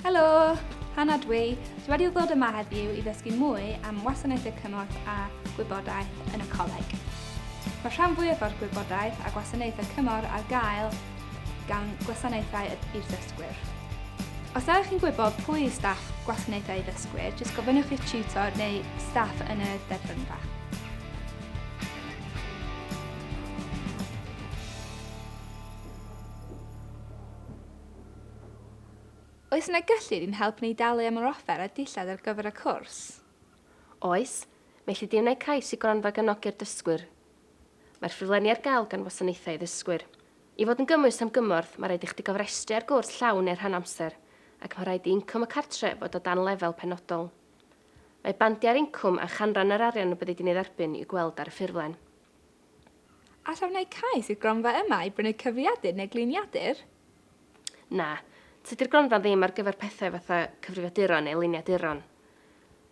Helo! Hannah dwi. Dwi wedi ddod yma heddiw i ddysgu mwy am wasanaethau cymorth a gwybodaeth yn y coleg. Mae rhan fwyaf o'r gwybodaeth a gwasanaethau cymorth ar gael gan gwasanaethau i'r ddysgwyr. Os ydych chi'n gwybod pwy yw staff gwasanaethau ddysgwyr, jyst gofynnwch i'ch tutor neu staff yn y derbynfa. Oes yna gyllid i'n helpu ni dalu am yr offer a dillad ar gyfer y cwrs? Oes, mae lluddiannau cais i gronfa gefnogi'r dysgwyr. Mae'r ffurflenni ar gael gan Wasanaethau i Ddysgwyr. I fod yn gymwys am gymorth, mae rhaid i chdi gofrestru ar gwrs llawn neu rhan amser, ac mae rhaid i incwm y cartref fod o dan lefel penodol. Mae bandiau'r incwm a chanran yr arian y byddi di'n ei dderbyn i'w gweld ar y ffurflen. Alla wneud cais i'r gronfa yma i brynu cyfrifiadur neu gliniadur? Na. Tydi'r gronfa ddim ar gyfer pethau fatha cyfrifiaduron neu liniaduron.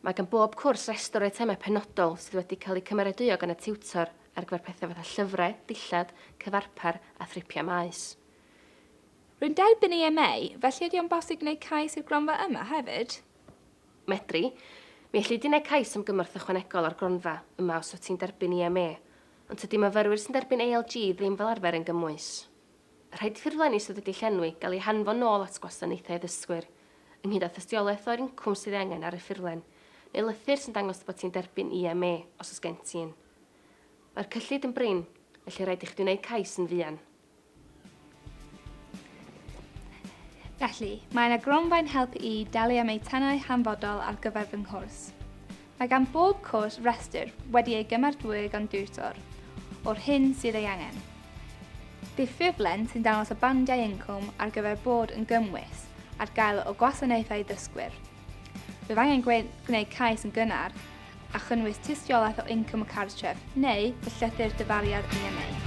Mae gan bob cwrs restr o eitemau penodol sydd wedi cael eu cymeradwyo gan y tiwtor ar gyfer pethau fatha llyfrau, dillad, cyfarpar a thripiau maes. Rwy'n derbyn EMA, felly ydy o'n bosib gwneud cais i'r gronfa yma hefyd? Medri. Mi elli di wneud cais am gymorth ychwanegol o'r gronfa yma os wyt ti'n derbyn EMA, ond tydi myfyrwyr sy'n derbyn ALG ddim fel arfer yn gymwys. Rhaid i ffurflenni sydd wedi llenwi gael eu hanfon nôl at Gwasanaethau Addysgwyr, ynghyd â thystiolaeth o'r incwm sydd ei angen ar y ffurflen, neu lythyr sy'n dangos dy bod ti'n derbyn EMA, os oes gen ti un. Mae'r cyllid yn brin, felly rhaid i chdi wneud cais yn fuan. Felly, mae yna gronfa'n helpu i dalu am eitemau hanfodol ar gyfer fy nghwrs. Mae gan bob cwrs restr wedi ei gymeradwyo gan diwtor o'r hyn sydd ei angen. Bydd ffurflen sy'n dangos y bandiau incwm ar gyfer bod yn gymwys ar gael o gwasanaethau dysgwyr. Bydd angen gwneud cais yn gynnar a chynnwys tystiolaeth o incwm y cartref neu y llythyr dyfariad i ymwneud.